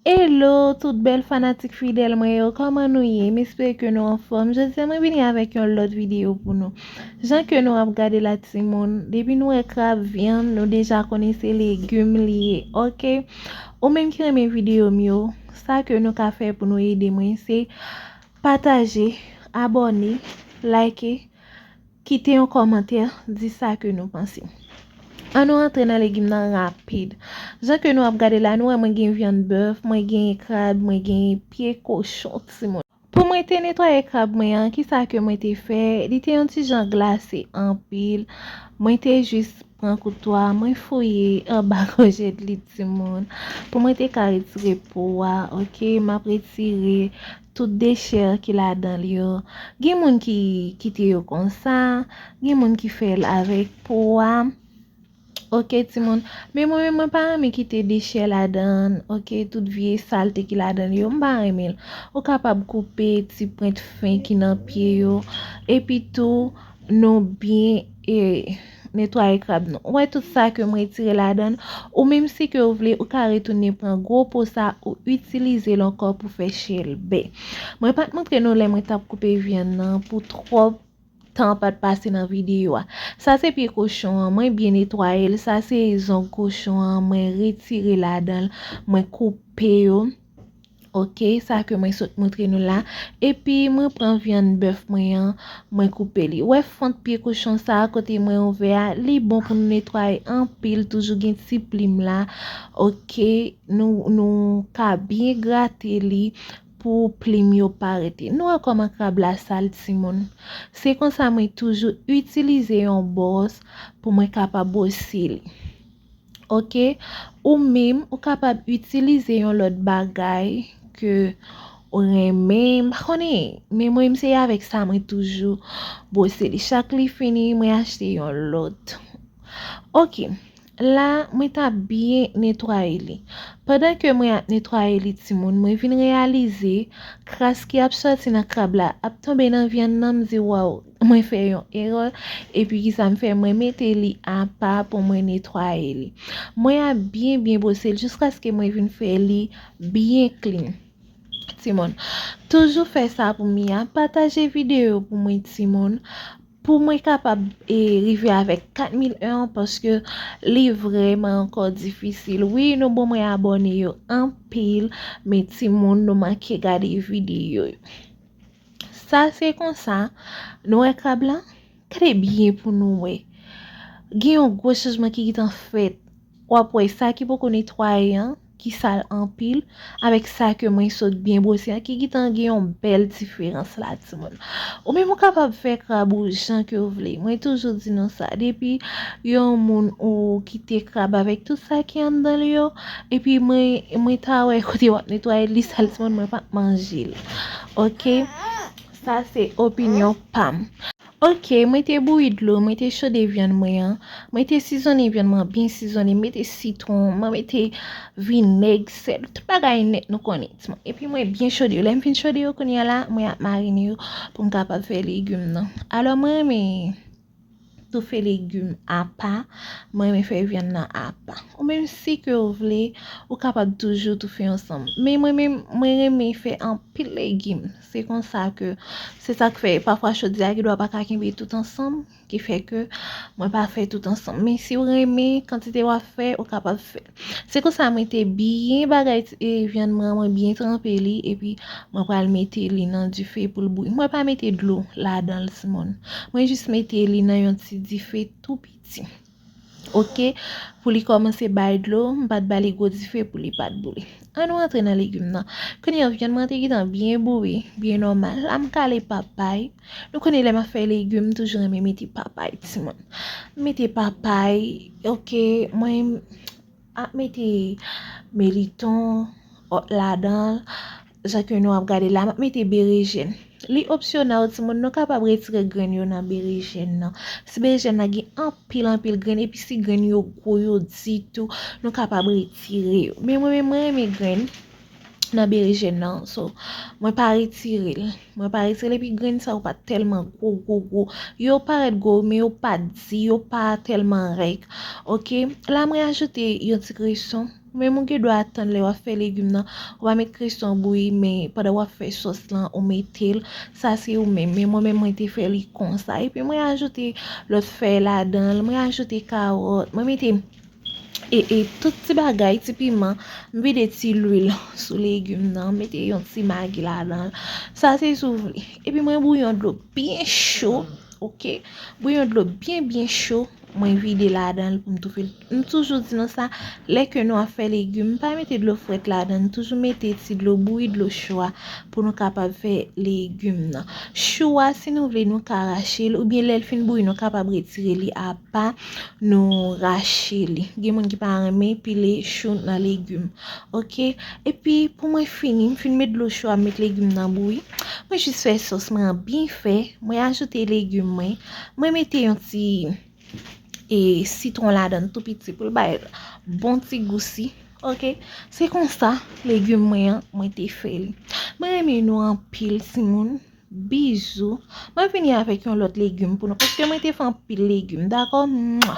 Hello tout bèl fanatik fidèl mwen yo kòman nou ye m espere ke nou anfòm jodya mwen vini avèk yon lòt videyo pou nou jan ke nou ap gade la timoun depi nou wè krab vyann nou deja konnen se legim li ye ok ou menm ki renmen videyo m yo sa ke nou ka fè pou nou ede mwen se pataje abòne like Kite yon kòmantè, di sa ke nou panse. An nou antre nan legim nan rapid. Jan ke nou ap gade la, nou wè mwen gen vyann bèf, mwen genyen krab, mwen genyen pye kochon ti moun. Pou mwen te netwaye krab mwen an, ki sa ke mwen te fè, li te yon ti jan glase anpil, mwen te jis. Pran kouto a mwen fouye anba gòjèt li timoun pou mwen te ka retire po a ok map retire tout dechè ki ladanl yo gen moun ki kite yo konsa gen moun ki fèl avèk po a ok timoun men mwen menm mwen pa renmen kite dechè ladann ok tout vye salte ki ladanl yo mpa renmenl ou kapab koupe ti pwent fen ki nan pye yo epi tou nou byen. Netwaye krab nou. Ou wè tout sa ke m retire ladan l? Ou menm si ke ou vle, ou ka retounen pran gwo po sa ou itilize l ankò pou fè chèlbè. Mwen pa t montre nou lè mwen t ap koupe vyann nan pou twòp tan pa t pase nan videyo a. Sa se pye kochon an, mwen byen netwaye l. Sa se zong kochon an, mwen retire ladan l, mwen koupe yo. Ok sa ke mwen sot moutre nou la epi mwen pran vyann bèf mwen an mwen koupe li wè fant pye kochon sa kote mwen ouvè a li bon pou nou netwaye anpil toujou gen ti plim la ok nou ka byen grate li pou plim yo pa rete nou wè kòman krab la sal timoun se konsa mwen toujou itilize yon bòs pou mwen kapab bwose li. ok ou minm ou kapab itilize yon lòt bagay ke ou renmen m pa konnen men mwen se avèk sa mwen toujou bwose li chak li fini mwen achte yon lòt ok la mwen ta byen netwaye li pandan ke mwen ap netwaye li timoun mwen vin reyalize kras ki ap sòti nan krab la ap tonbe nan vyann nan m di waw Mwen fè yon erè epi kisa m fè mwen mete li apa pou mwen netwaye li mwen ap byen byen bwose l jiskaske mwen vin fè li byen klin timoun toujou fè sa pou mi a pataje videyo pou mwen timoun pou mwen kapab e rive avèk 4001 an paske li vrèman ankò difisil wi nou bon mwen abòne yo anpil men timoun nou manke gade videyo yo. Sa se konsa, nou wè krab lan? Gade byen pou nou wè. Gen yon gwo chanjman ki gitan fèt. W ap wè sa ki poko netwaye an, ki sal anpil, avèk sa ke mwen sot byen bwose an ki gitan gen yon bèl diferans la timoun. Ou menm ou kapab fè krab ou jan ke ou vle. Mwen toujou di nou sa. Depi yon moun ou kite krab avèk tout sa ki anndan li yo, epi mwen ta wè kote w ap netwaye l, li sal timoun mwen pa p manje l. Ok sa se opinyon pam. Ok mwen te bouyi dlo mwen te chode vyann mwen an mwen te sizonnen vyann mwen byen sizonnen mwen mete sitwon mwen mete vinèg sèl tout bagay nèt nou konnen epi mwen byen chode yo lèm fin chode yo kounya la mwen ap marine yo poum kapab fè legume nan alò mwen renmen tou fè legum apa mwen renmen fè vyann nan apa ou menm si ke ou vle ou kapab toujou tou fè ansanm men mwen menm mwen renmen fè anpil legum se konsa ke se sak fè pafwa chodyè gen dwa pa ka kenbe tout ansanm ki fè ke mwen pa fè tout ansanm men si ou renmen kantite wap fè ou kapab fè. Se konsa mwen te byen bagay ti vyann mwen an mwen byen tranpe li epi mwen pral mete li nan dife poul bouyi mwen pa mete dlo ladanl ti moun mwen jis mete li nan yon ti dife tou piti ok pou li komanse bay dlo m pat bali gwo dife pou li pat bouyi an nou antre nan legume nan kounye an vyann mwen an te gentan byen bouyi byen nòmal la m kale papay. Nou konnen lè map fè legume m toujou renmen mete papay timoun m mete papay ok mwen ap mete meliton ladanl jan ke nou ap gadel la map mete berejèn li opsyonèl timoun nou kapab retire grenn yo nan berejèn nan si berejèn nan gen anpil anpil grenn epi si grenn yo gwo yo di tou nou kapab retire yo men mwen menm mwen renmen grenn. nan berejèn nan so mwen pa retirel mwen pa retirel epi grenn sa yo pa tèlman gwo gwo gwo yo parèt gwo men yo pa di yo pa tèlman rèk ok la mwen ajoute yon ti kreson men mwen gen dwa atan lè wap fè legim nan wap met kreson bouyi men pandan wap fè sos lan ou metel sa se ou menm men mwen menm mwen te fè li konsa epi mwen ajoute lòt fèy ladanl mwen ajoute kawòt mwen mete e e tout ti bagay ti piman m vide ti lwil sou legume nan mete yon ti magi ladanl sa se si w vle epi mwen bouyon dlo byen cho ok bouyon dlo byen byen cho mwen vide ladanl pou m toufe l m toujou di nou sa lè ke nou ap fè legume pa mete dlo fwèt ladann toujou mete ti dlo bouyi dlo cho a pou nou kapab fè legume nan chou a si nou vle nou ka rache l oubyen lèl fin bouyi nou kapab retire li apa. Nou rache li. Gen moun ki pa renmen pile chou nan legim. Ok. E pi pou mwen fini, m fin met dlo chou a, m met legim nan bouyi. Mwen jis fè sos mwen an byen fè. Mwen ajoute legim mwen. Mwen mete yon ti e sitwon ladan tou piti pou l bay bon ti gousi. Ok. Se konsa legim mwen an mwen te fè li. Mwen renmen nou anpil ti moun. Bisous. Mwen vini avek yon lot legume pou nou paske mwen te fè anpil legume dako. Mwa.